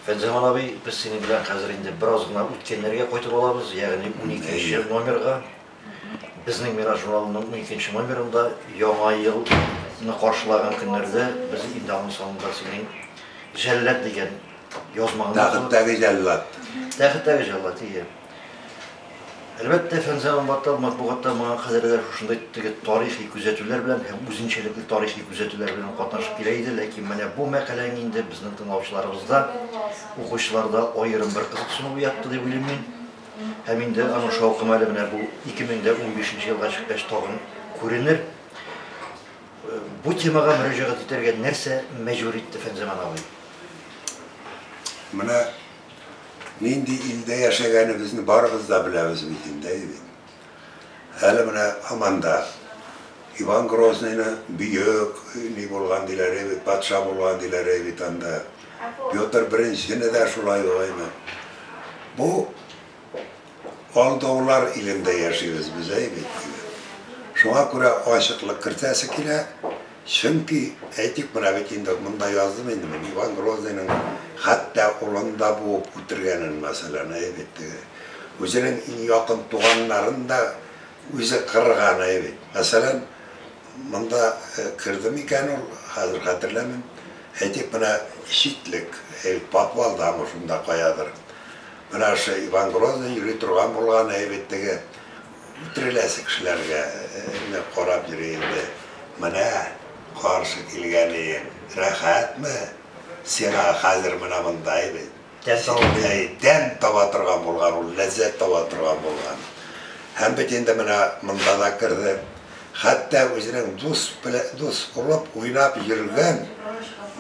Фәнзаман абый, без синең белән хәзер инде бераз гына үткәннәргә кайтып алабыз, ягъни уникенче номерга. Безнең Мираж журналының уникенче номерында Яңа елны каршылаган көннәрдә без инде аның санында синең Җәллад дигән язмаңны укыдык. Тәхеттәге җәллад. Тәхеттәге җәллад, ие. Әлбәттә, Фәнзә Амбатал матбугатта моңа кадәр дә шушындый теге тарихи күзәтүләр белән һәм үзенчәлекле тарихи күзәтүләр белән катнашып килә иде, ләкин менә бу мәкаләң инде безнең тыңлаучыларыбызда, укучыларда аерым бер кызыксыну уятты дип уйлыйм мин. Һәм инде аның шаукымы әле менә бу 2015 нче елга чыккач тагын күренер. Бу темага мөрәҗәгать итәргә нәрсә мәҗбүр итте Фәнзәман абый? Менә Нинди илдә яшәгәнебезне барыбыз да беләбез бит инде, әйе бит? Әле менә һаман да Иван Грозныйны бөек ни булган диләр, әйе бит, патша булган диләр, әйе бит анда. Петр Беренчене дә шулай ук, әйеме? Бу. Алдаулар илендә яшибез без, әй бит, диде. Шуңа күрә ачыклык кертәсе килә, чөнки, әйтик, менә бит инде монда яздым инде мин, Иван Грозныйның хәтта улын да буып үтергәнен, мәсәлән, әй бит, теге, үзенең иң якын туганнарын да үзе кырган, әй бит. Мәсәлән, монда кердеме икән ул, хәзер хәтерләмим, әйтик, менә Читлек, әй бит, подвалдамы, шунда каядыр. Менә ошый Иван Грозный йөри торган булган әйбит теге үтереләсе кешеләргә генә карап йөри инде. Менә каршы килгәниең. Рәхәтме? Сиңа хәзер менә монда әйбит. Тәм таба торган булган ул, ләззәт таба торган булган. Һәм бит инде менә монда да керде. Хәтта үзенең дус белән дус булып уйнап йөргән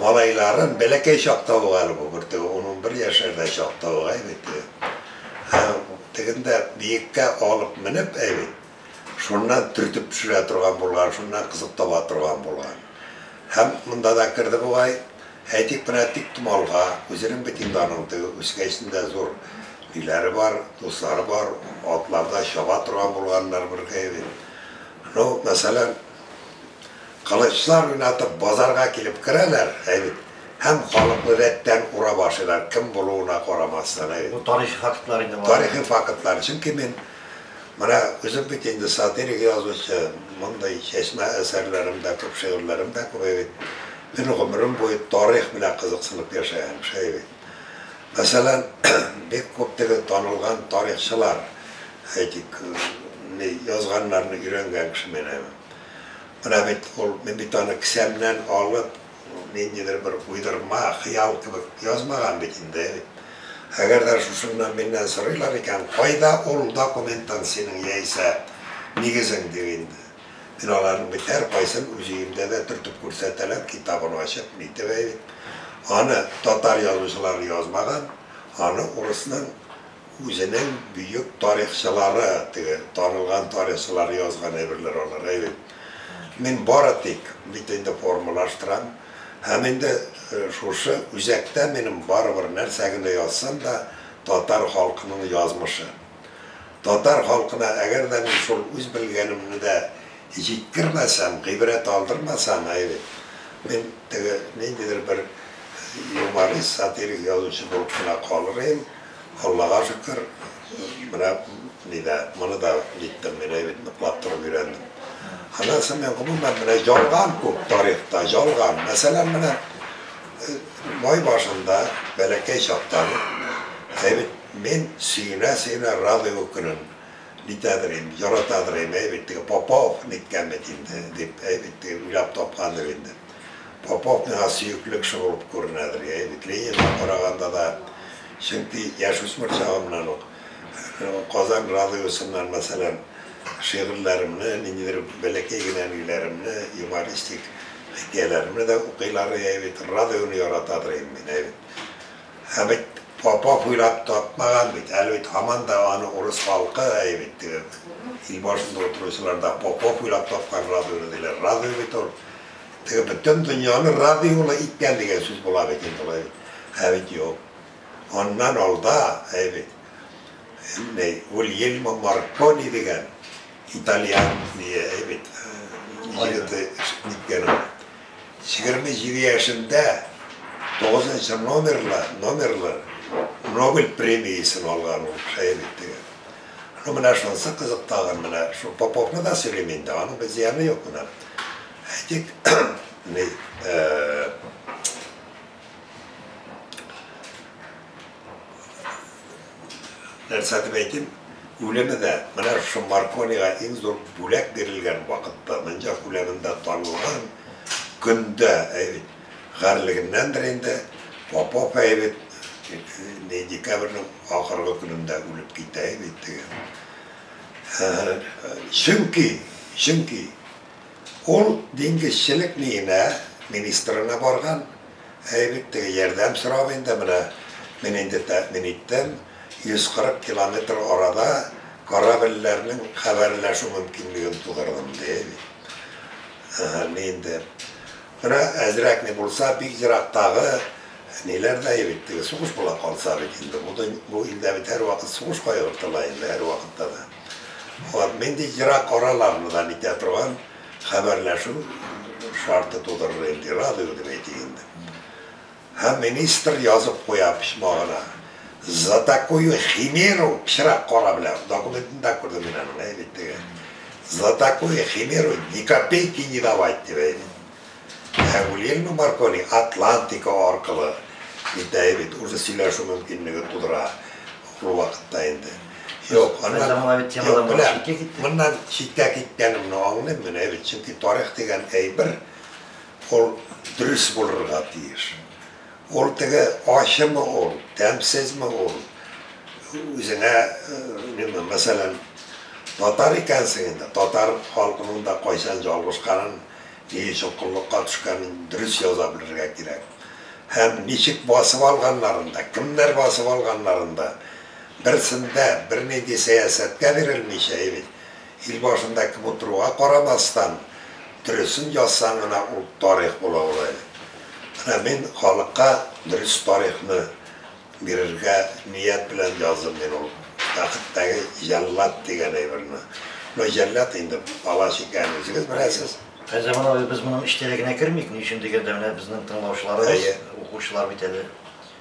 малайларын бәләкәй чакта ук әле бу бөртеге ун-унбер яшьләрдә чакта ук әй бит теге тегендә биеккә алып менеп әй бит шуннан төртеп төшерә торган булган, шуннан кызык таба торган булган. Һәм монда да керде бугай. Әйтик, менә тиктомалга, үзенең бит инде аның теге үскәчендә зур өйләре бар, дуслары бар, атларда чаба торган булганнар бер кое бит. Ну, мәсәлән, кылычлар уйнатып базарга килеп керәләр, әй бит, һәм халыкны рәттән урап ашыйлар, кем булуына карамастан, әй бит. Бу тарихи фактлар инде болар. Тарихи фактлар, чөнки мин. Менә үзем бит инде сатирик язучы, мондый чәчмә әсәрләрем дә күп, шигырьләрем дә күп бит. Мин гомерем буе тарих белән кызыксынып яшәгән, шәй бит. Мәсәлән, бик күп теге танылган тарихчылар, әйтик, ни язганнарны өйрәнгән кеше мин әле. Менә бит ул, мин бит аны кесәмнән алып, Бу ниндидер бер уйдырма, хыял кебек язмаган бит инде. Әгәр дә шушы гына миннән сорыйлар икән, кайда ул документан синең яисә нигезең, дим инде. Мин аларның бит һәркайсын үз өемдә дә төртеп күрсәтәләр, китабын ачып, нитеп, әй бит, аны татар язучылары язмаган, аны урысның, Үзенең бөек тарихчылары, теге танылган тарихчылар язган әйберләр алар, әйбит. Мин бары тик бит инде формалаштырам. Һәм инде шушы үзәктә минем барыбер нәрсә генә язсам да, татар халкының язмышы. Татар халкына әгәр дә мин шул үз белгәнемне дә җиткермәсәм, гыйбрәт алдырмасам, әйбит. Мин теге ниндидер бер юморист, сатирик язучы булып кына калыр идем. Аллага шөкер, менә ни дә, моны да җиттем, мин әйбит ныклап торып өйрәндем. Аннан соң мин гомумән менә ялган күп тарихта, ялган. Мәсәлән, менә май башында, бәләкәй чактан ук, әйбит мин сөенә-сөенә Радуга көнен нитәдер инде, яратадыр идем, әйбит теге Попов ниткән бит инде, дип, әйбит теге уйлап тапкандыр инде. Попов миңа сөекле кеше булып күренәдер, я егет, Ленинга караганда да, чөнки яшүсмер чагымнан ук Казан радиосыннан, мәсәлән, шигырьләремне, ниндидер бәләкәй генә ниләремне, юмористик хикәяләремне дә укыйлар, я егет, радионы яратадыр идем мин, әйбит. Ә бит Попов уйлап тапмаган бит, әле бит һаман да аны урыс халкы, әйбит, теге ил башында утыручылар да Попов уйлап тапкан радионы диләр, радио бит ул. Теге бөтен дөньяны радиола иткән дигән сүз була бит инде алай бит. Ә бит юк. Аннан алда, әй бит. Ней, Гульельмо Маркони дигән итальян ние, әй бит. Егете ниткән ул. Егерме җиде яшендә тугызынчы номерлы, номерлы Нобель премиясен алган ул, әй бит теге. Ну, менә шунысы кызык тагын, менә шул Поповны да сөйлим инде, аның бер зыяны юк менә. Әйтик, ни, э, нәрсә дип әйтим, үлеме дә, менә шул Марконига иң зур бүләк бирелгән вакытта, Монҗак үләнендә танылган көндә, әй бит, Гарьлегеннәндер инде, Попов әй бит ни декабрьнең ахыргы көнендә үлеп китә әй бит теге. Һы-һы. Чөнки, чөнки ул диңгезчелек миенә министрына барган әй бит теге, ярдәм сорап инде, менә мин инде тәэмин иттем, 140 километр арада корабльләрнең хәбәрләшү мөмкинлеген тудырдым, ди әй бит. Һы-һы, ни инде. Менә әзрәк ни булса, бик ерактагы ниләр дә бит теге сугыш була калса бит инде, бу дөнь, бу илдә бит һәрвакыт сугыш кайгырып тора инде, һәрвакытта да. Вот, нинди ерак аралардан итә торган хәбәрләшү шарты тудырыр инде, радио дип әйтик инде. Һәм министр язып куя почмагына, За такую химеру, пычрак кара белән, документны да күрдем мин аның, әй бит теге, За такую химеру ни копейки не давать, дип, әй бит. Ә Гульельмо Маркони Атлантика аркылы бит, әй бит, уже сөйләшү мөмкинлеге тудыра ул вакытта инде. Юк, моннан читкә киткәнемне аңлыйм мин, әй бит, чөнки тарих дигән әйбер, Ул дөрес булырга тиеш. Ул теге ачымы ул, тәмсезме ул, үзеңә, миңа, мәсәлән, татар икәнсең инде, татар халкының да кайчан ялгышканын, ни өчен коллыкка төшкәнен дөрес яза белергә кирәк. Һәм ничек басып алганнарын да, кемнәр басып алганнарын да, берсен дә, бернинди сәясәткә бирелмичә, имин. Ил башында кем утыруга карамастан, дөресен язсаң гына ул тарих була ул әле. Менә мин халыкка дөрес тарихны бирергә ният белән яздым мин ул бәхеттәге җәллад дигән әйберне. Ну җәллад инде бала чикән үзегез беләсез. Ә Заман абый без моның эчтәлегенә кермик, ни өчен дигәндә менә безнең тыңлаучыларыбыз, укучылар бит әле